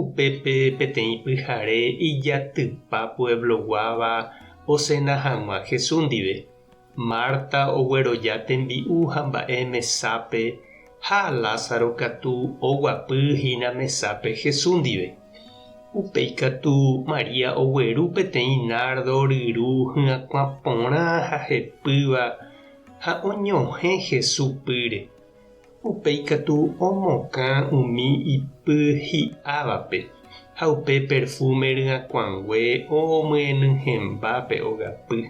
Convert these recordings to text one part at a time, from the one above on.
Upépe peteĩ pyhare ijatypa puebloguáva osena hag̃ua Jesús ndive. Marta ogueroja tembi'u ha mba'e mesápe ha Lázaro katu oguapy hína mesápe Jesús ndive. Upéi katu María ogueru peteĩ nárdo ryru hyakuã porã ha hepýva ha oñohẽ Jesús pýre. Upéi katu omokã umi ipy hi'ávape, ha upe perfúme ryakuãngue omyeny hemba pe ogapy.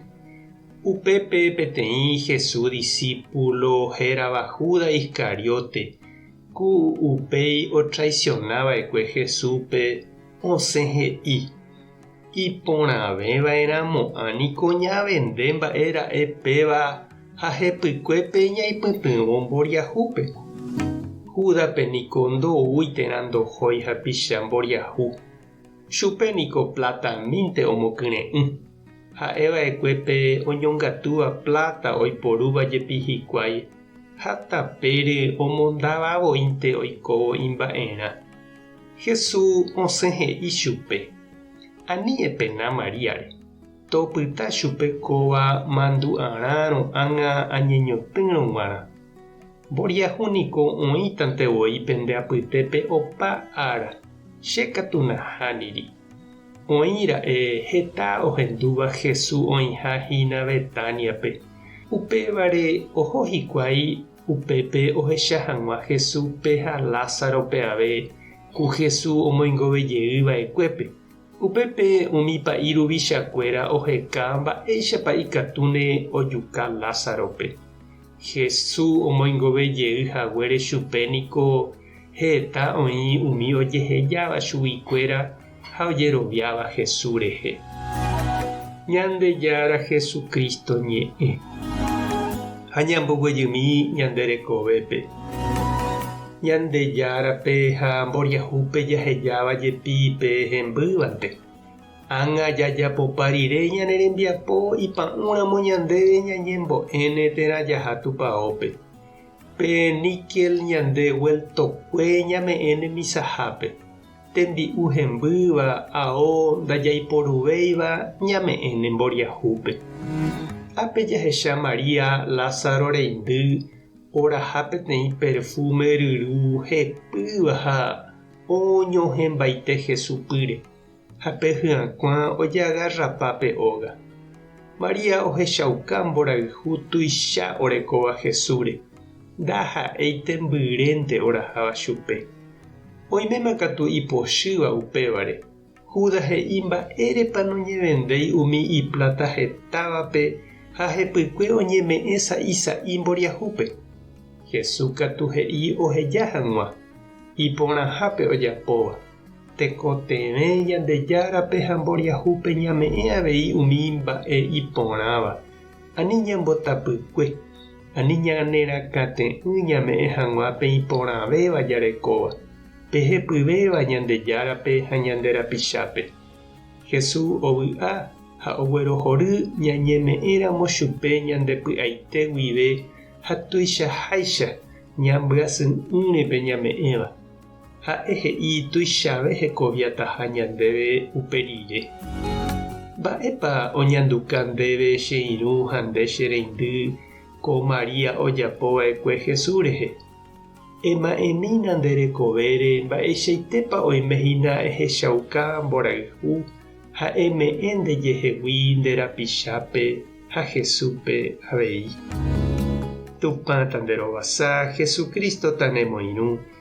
Upépe peteĩ Jesús disípulo hérava Judas Iscariote, ku upéi otraisiona va'ekue Jesúspe, osẽ he'i, Iporãveva'erãmo'ã niko ñavende mba'e ra'e péva ha hepykuépe ñaipytyvõ mboriahúpe. Júdape niko ndoúi térã ndohói hapicha mboriahu, chupe niko pláta mínte omokyre'ỹ. Ha'eva'ekue pe oñongatúva pláta oiporúva jepi hikuái ha tapéry omondavavoínte oikóvo imba'erã. Jesús osẽ he'i chupe, Ani epena Maríare, topyta chupe kóva mandu'arã ro'ág̃a añeñotỹrõ g̃uarã. Mboriahu niko oĩtante voi pende apytépe opa ára, che katu nahániri. Oĩ ra'e heta ohendúva Jesús oĩha hína Betániape, upévare oho hikuái Upépe ohecha hag̃ua Jesúspe ha Lázarope ave ku Jesús omoingove jey va'ekuépe. Upépe umi pa'i ruvichakuéra oheka mba'éichapa ikatúne ojuka Lázarope. Jesús omoingove jey haguére chupe niko Heta oĩ umi ojehejáva chuguikuéra ha ojeroviáva Jesús rehe. Ñandejára Jesucristo ñe'ẽ. Ha ñamboguejymi ñande rekovépe. Ñandejárape ha mboriahúpe jahejáva jepi pe hembývante. Ág̃a jajapopa rire ñane rembiapo ipa'ũ ramo ñandéve ñañembo'éne térã jaha Tupaópe. Pe níquel ñande vueltokue ñame'ẽ ne misahápe, tembi'u hembýva, ao ndajaiporuvéiva ñame'ẽ ne mboriahúpe. Ápe jahecha María Lázaro reindy oraha peteĩ perfume ryru hepýva ha oñohẽmbaite Jesupýre. Ha pe hyakuã ojeagarrapa pe óga. María ohechauka mborayhu tuicha orekóva Jesúsre, ndaha'éi tembyrente oraháva chupe. Oiméma katu ipochýva upévare, Judas he'i mba'érepa noñevendéi umi ipláta hetávape ha hepykue oñeme'ẽ sa'i sa'i mboriahúpe. Jesús katu he'i oheja hag̃ua, iporãhápe ojapóva. Tekotevẽ Ñandejárape ha mboriahúpe ñame'ẽ avei umi mba'e iporãva, ani ñambotapykue, ani ñanerakãte'ỹ ñame'ẽ hag̃ua pe iporãvéva jarekóva, pe hepyvéva Ñandejárape ha ñande rapichápe. Jesús ovy'a ha oguerohory ñañeme'ẽramo chupe ñande py'aite guive ha tuichaháicha ñambyasy'ỹre pe ñame'ẽva. Ha'e he'i tuichave hekoviataha ñandéve upe rire. Mba'épa oñanduka ndéve che irũ ha nde che reindy ko María ojapo va'ekue Jesús rehe? Ema'ẽmína nde rekovére mba'eichaitépa oime hína ehechauka mborayhu ha eme'ẽ nde jehegui nde rapichápe ha Jesúspe avei. Tupãta nde rovasa, Jesucristo-ta nemoirũ.